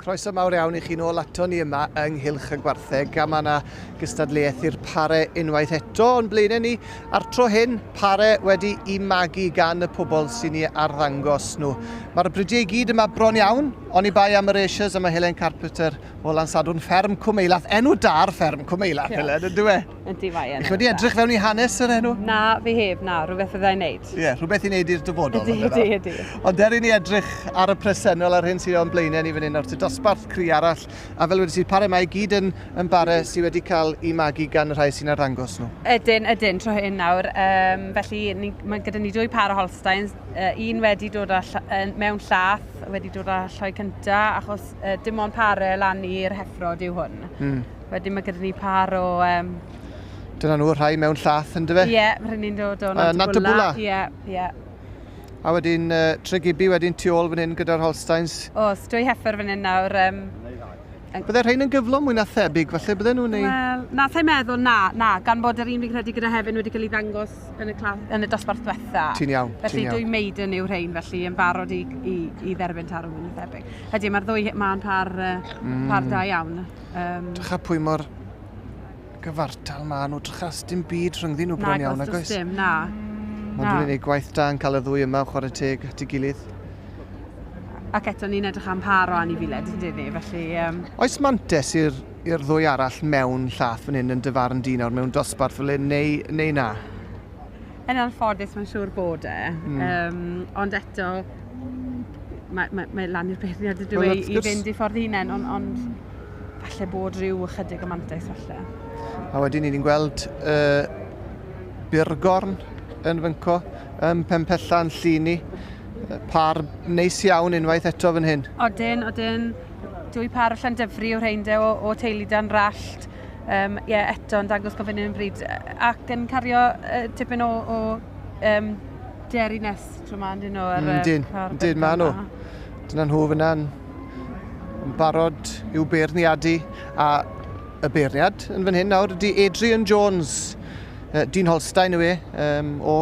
Croeso mawr iawn i chi nôl ato ni yma yng Nghylch y Gwartheg a mae yna gystadleuaeth i'r pare unwaith eto o'n blaenau ni. A'r tro hyn, pare wedi i magu gan y pobl sy'n ei arddangos nhw. Mae'r bridiau i gyd yma bron iawn, ond i bai am yr Asias yma Helen Carpenter o Lansadwrn Fferm Cwmeilath. Enw dar fferm Cwmeilath, yeah. Helen, yn dweud? Yndi, mae yn. Chi wedi edrych fewn i hanes yr enw? Na, fi heb, na, rhywbeth fydda i'n neud. Ie, yeah, rhywbeth i'n neud i'r dyfodol. Ydy, ydy, ydy. Ond er i ni edrych ar y presennol a'r hyn sy'n o'n blaenau ni fan hyn o'r dosbarth cri arall, a fel wedi si, pare mae gyd yn, yn bare sydd wedi cael ei magu gan y rhai sy'n arddangos nhw. Ydyn, ydyn, tro hyn nawr. Um, felly, ni, mae gyda ni dwy par o Holsteins, uh, un wedi dod â ll uh, mewn llath, wedi dod â lloi cynta, achos uh, dim ond pare lan i'r heffrod yw hwn. Mm. Wedyn mae gyda ni par o... Um... Dyna nhw, rhai mewn llath yn dyfe? Ie, yeah, rhai ni'n dod o Nantabwla. Uh, Ie, yeah, ie. Yeah. A wedyn uh, Tregibi wedyn tu ôl fan hyn gyda'r Holsteins. O, oh, stwy heffer fan hyn nawr. Um, Bydde rhain yn gyflom mwy na thebyg, falle bydde nhw'n ei... Wel, na, sa'i meddwl, na, na, gan bod yr un fi'n credu gyda hefyd wedi cael ei ddangos yn y, clas, yn y dosbarth diwetha. Ti'n iawn, ti'n iawn. Felly dwy maiden yw rhain, felly yn barod i, i, i dderbyn tarw mwy na thebyg. Felly mae'r ddwy ma'n par, uh, mm. par da iawn. Um, Drycha pwy mor gyfartal maen nhw, drycha dim byd rhyngddyn nhw bron iawn, nag oes? Dim, na. Ond dwi'n ei gwaith da yn cael y ddwy yma, chwarae teg at ei gilydd. Ac eto ni'n edrych am par o anifiled, ydyn ni, felly... Um... Oes mantes i'r ddwy arall mewn llath fan hyn yn dyfarn dyn nawr mewn dosbarth fel hyn, neu, neu na? Yn anffodus, mae'n siŵr bod e. Mm. Um, ond eto, mae, mae, mae lan i'r beirniad y dwi i fynd i ffordd hunain, ond, ond falle bod rhyw ychydig o mantais falle. A wedyn ni'n gweld uh, Burgorn yn fynco, ym Pempella yn Lluni. Par neis iawn unwaith eto fan hyn. Odyn, odyn. Dwy par o Llandyfri o rheinde o, o teulu dan rallt. um, yeah, eto yn dangos gofyn yn bryd ac yn cario uh, tipyn o, o um, deriness tro ma, dyn nhw. Ar, mm, dyn, dyn, ma nhw. Dyna nhw fyna'n barod i'w beirniadu a y beirniad yn fan hyn nawr ydy Adrian Jones Uh, Dean Holstein yw e, um, o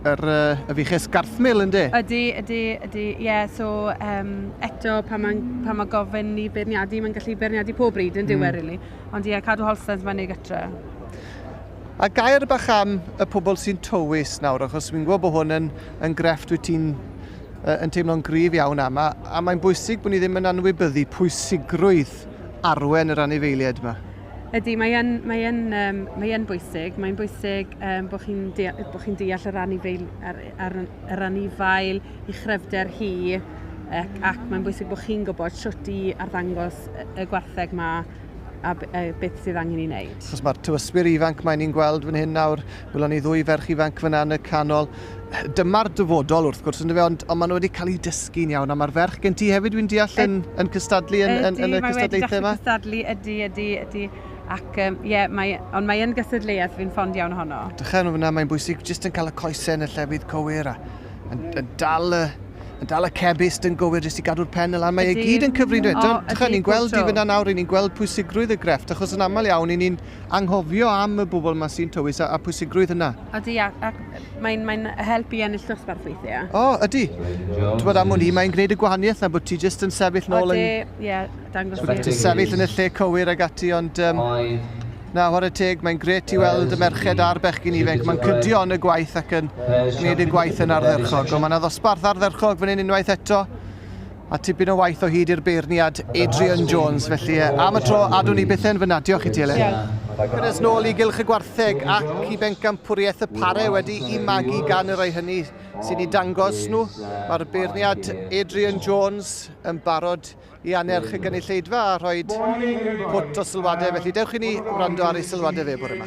yr, uh, y fiches Garthmil yn de? Ydy, ydy, ydy, ie, yeah, so um, eto pan mae, pan mae gofyn i beirniadu, mae'n gallu beirniadu pob bryd yn diwedd, mm. really. Ond ie, yeah, cadw Holstein mae'n ei gytra. A gair bach am y pobl sy'n tywys nawr, achos fi'n gwybod bod hwn yn, yn grefft wyt ti'n uh, yn teimlo'n grif iawn am, a, a mae'n bwysig bod ni ddim yn anwybyddu pwysigrwydd arwen yr anifeiliaid yma. Ydy, mae yn, mae yn, um, mae yn bwysig. Mae'n bwysig um, bod chi'n deall, bo chi deall yr anifail, ar, ar, ar anifail i chrefder hi, ac, ac mae'n bwysig bod chi'n gwybod sut i arddangos y gwartheg yma a, a beth sydd angen i wneud. Chos mae'r tywyswyr ifanc mae ni'n gweld fan hyn nawr, Welon ni ddwy ferch ifanc fyna yn y canol. Dyma'r dyfodol wrth gwrs, ynddo fe, ond, ond maen nhw wedi cael eu dysgu'n iawn. A mae'r ferch gen ti hefyd, dwi'n deall, yn, yn cystadlu yn, yn, yn y cystadlaethau yma? Ydy, cystadlu, ydy, ydy, ydy. Ac, um, yeah, mae, ond mae yn gystadleuaeth fi'n ffond iawn ohono. Dychan fyna, mae'n bwysig jyst yn cael y coesau yn y llefydd cywir a yn, yn dal y yn dal y cebist yn gywir jyst i gadw'r pen y lan. Mae e gyd yn cyfrin dweud. Dychan, ni'n gweld i fyna nawr, ni'n gweld pwysigrwydd y grefft, achos yn aml iawn, ni'n anghofio am y bobl yma sy'n tywys a, a pwysigrwydd hynna. Ydy, ac, ac mae'n mae helpu ennill dosbarth weithiau. O, oh, ydy. Ti'n bod am hwn i, mae'n gwneud y gwahaniaeth na bod ti jyst yn sefyll nôl yn... Ydy, ie, yeah, dangos i. Ti'n sefyll yn y lle cywir ag ati, ond... Um, na, hor y teg, mae'n gret i weld y merched a'r bechgyn ifanc. Mae'n cydio yn y gwaith ac yn gwneud y gwaith yn ardderchog. Ond mae yna ddosbarth ardderchog fan hyn unwaith eto. A tipyn o waith o hyd i'r beirniad Adrian Jones, felly e, am y tro, adwn i byth yn fyna. Diolch i ti, Elen. Cynnes nôl i gylch y gwartheg ac i bencampwriaeth y pare wedi i magu gan y rhai hynny sy'n ei dangos nhw. Mae'r beirniad Adrian Jones yn barod i anerch y gynulleidfa a rhoi pwt o sylwadau, felly dewch i ni wrando ar ei sylwadau fe bore yma.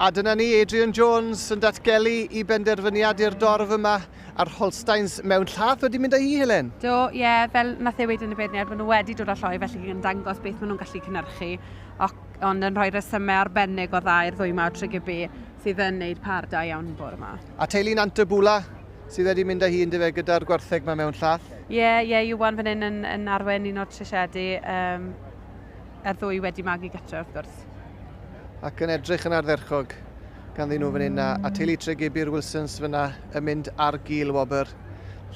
A dyna ni, Adrian Jones yn datgelu i benderfyniad i'r dorf yma a'r Holsteins mewn llath wedi mynd â hi, Helen. Do, ie, yeah, fel nath ei wedi yn y beirniad, maen nhw wedi dod â lloi felly yn dangos beth maen nhw'n gallu cynnyrchu, ond yn rhoi resymau arbennig o dda i'r ddwy mawr trygybu sydd yn neud par da iawn bore yma. A teulu Nant y Bwla sydd wedi mynd â hi yn dyfe gyda'r gwartheg mae mewn llath. Ie, yeah, ie, yeah, Iwan fan hyn yn, yn arwen un o'r trisiedi. Um, y ddwy wedi magu gytre wrth gwrs. Ac yn edrych yn ardderchog ganddyn nhw fan hyn, a, a teulu Tregebu'r Wilsons fyna yn mynd ar gil wobr.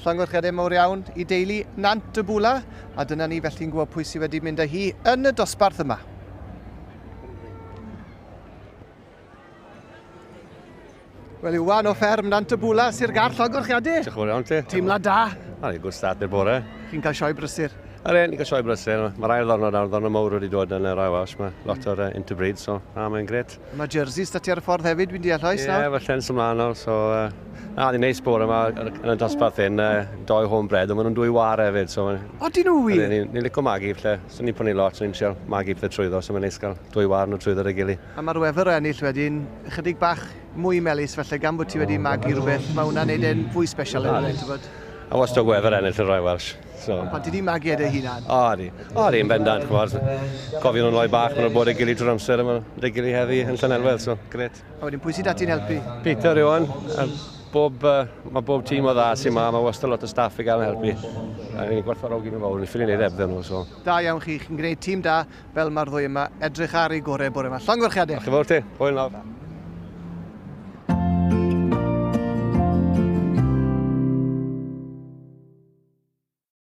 Llongyfarchiadau mawr iawn i deulu Nant y Bwla, a dyna ni felly'n gwybod pwy sydd wedi mynd â hi yn y dosbarth yma. Wel, Iwan o fferm Nant y Bwla, Sir Gar, llogwch chi, Andy? Diolch yn iawn ti. Teimlad da? A ni, good start i'r bore. Chi'n cael sioe brysur? Ar ein, ni'n cael sioe brysur. Mae'r ail ddornod a'r ddornod mawr wedi dod yn yr ail aws. Mae lot o'r uh, interbreed, so na, mae'n gret. Mae jerseys da ti ar y ffordd hefyd, fi'n deall oes? Ie, yeah, felly'n symlaen nawr, so... Uh, na, ni'n neis bore yma yn y dosbarth hyn, uh, doi home bread, ond maen nhw'n dwy war hefyd, so... O, dyn nhw wir? Ni'n ni, ni licio magu, felly. So ni'n prynu lot, so ni'n trial magu pethau trwyddo, so mae'n neis cael dwy warn o drwyddo 'da ei gilydd. A mae'r wefr o ennill wedyn ychydig bach mwy melys falle gan bod ti wedi magu rhywbeth, mae hwnna'n neud e'n fwy special yn rhywbeth, tybod? A wastad wefr ennill y Royal Welsh. So. Ond pan ti di magu e dy hunan? O, di. O, di, yn bendant, chymod. Cofio nhw'n rhoi bach, maen nhw'n bod ei gilydd drwy'r amser, a maen nhw'n ei gilydd heddi yn Llanelwedd, so, gret. A wedyn, pwy sydd â ti'n helpu? Peter Iwan, a bob, uh, mae bob tîm o dda sy'n ma, mae wastad lot o staff i gael yn helpu. A ni'n gwerthfawrogi nhw fawr, ni'n ffili wneud ebdden nhw, so. Da iawn chi, chi'n gwneud tîm da, fel mae'r ddwy yma, edrych ar ei gorau bore yma. Llongyfarchiadau. Diolch yn fawr ti, hwyl nawr.